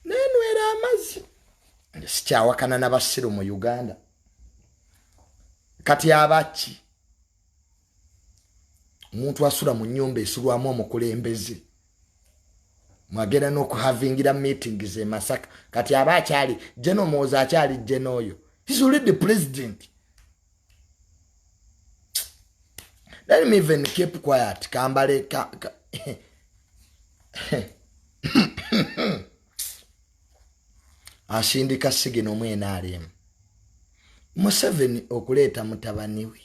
nenwera amazzi sikyawakana nabasiru mu uganda kati abaki omuntu asula mu nyumba esulwamu omukulembeze mwagenda nokuhavingira meeting ze masaka kati aba akyali jeno muwoza akyali jeno oyo his already president let me even keep quiet kambale ka, ka. asindika sigina omu nrm museveni okuleeta mutabani we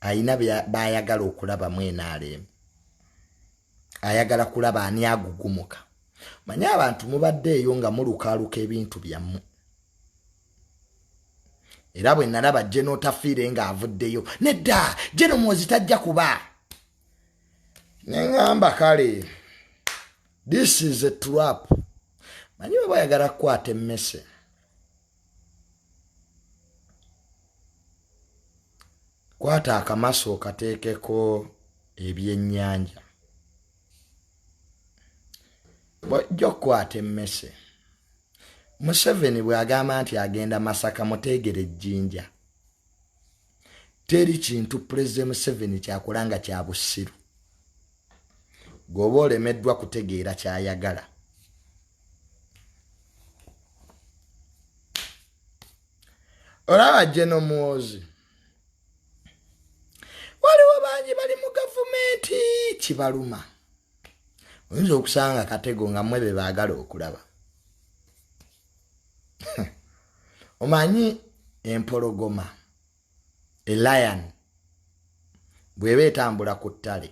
ayina bayagala okulabamu nrm ayagala kulaba ani agugumuka manye abantu mubadde eyo nga mulukaaluka ebintu byammwe era bwe nalaba jeno otafiire nga avuddeyo nedda jeno mwozi tajja kuba neŋamba kale this is a trap manyi baba yagala kukwata emmese kwata akamaso okateekeko ebyennyanja bwojja okukwata emmese museveni bw'agamba nti agenda masaka muteegere ejjinja teri kintu pulezidenti museveni kyakola nga kya busiru gweoba olemeddwa kutegeera kyayagala olaba jeno muwozi waliwo bangi bali mu gavumenti kibaluma oyinza okusanga katego nga mwe be baagala okulaba omanyi empologoma elion bweba etambula ku ttale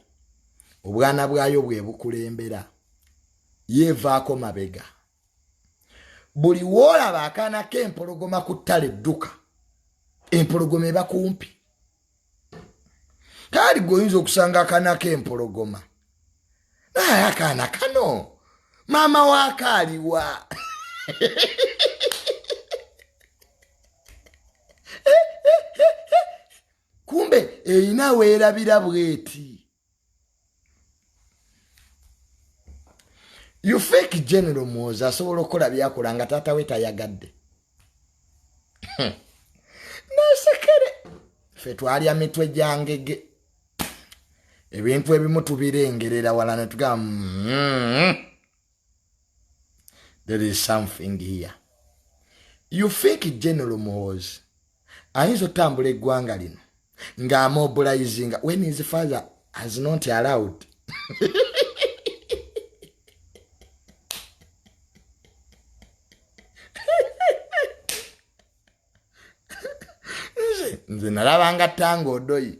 obwana bwayo bwebukulembera yevaako mabega buli woolaba akaana k'empologoma ku ttale dduka empologoma eba kumpi kaali gweoyinza okusanga akana kempologoma naye akaana kano maama wakaaliwa kumbe erina weerabira bweti you fake general muwoza asobola okukola byakola nga taata we tayagadde hmm. nasekere fe twalya mitwe gyangege ebintu ebimu tubirengerera wala netugamba mm -hmm. there is something here you think general muhoozi ayinza otambula eggwanga lino ng'amobilizinga when his father has not allowed nze nalabanga tanga odoyi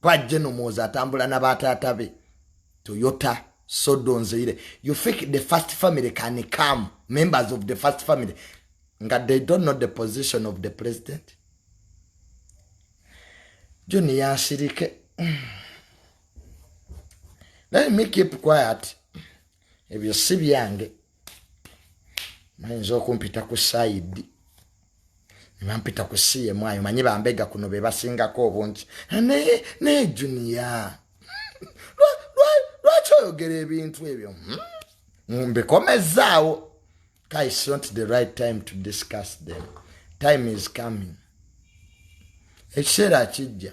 pa jeno muwoza atambula na bataata be toyota sodo nzeire you think the first family can come members of the first family nga they don't know the position of the president joni yasirike let me keep quiet ebyo si byange mayinza okumpita ku saidi nebampita ku cm ayo manyi bambega kuno bebasingako obungi naye naye junia lwaki oyogera ebintu ebyo hmm? mbikomezaawo guys not the right time to discuss them time is coming ekiseera kijja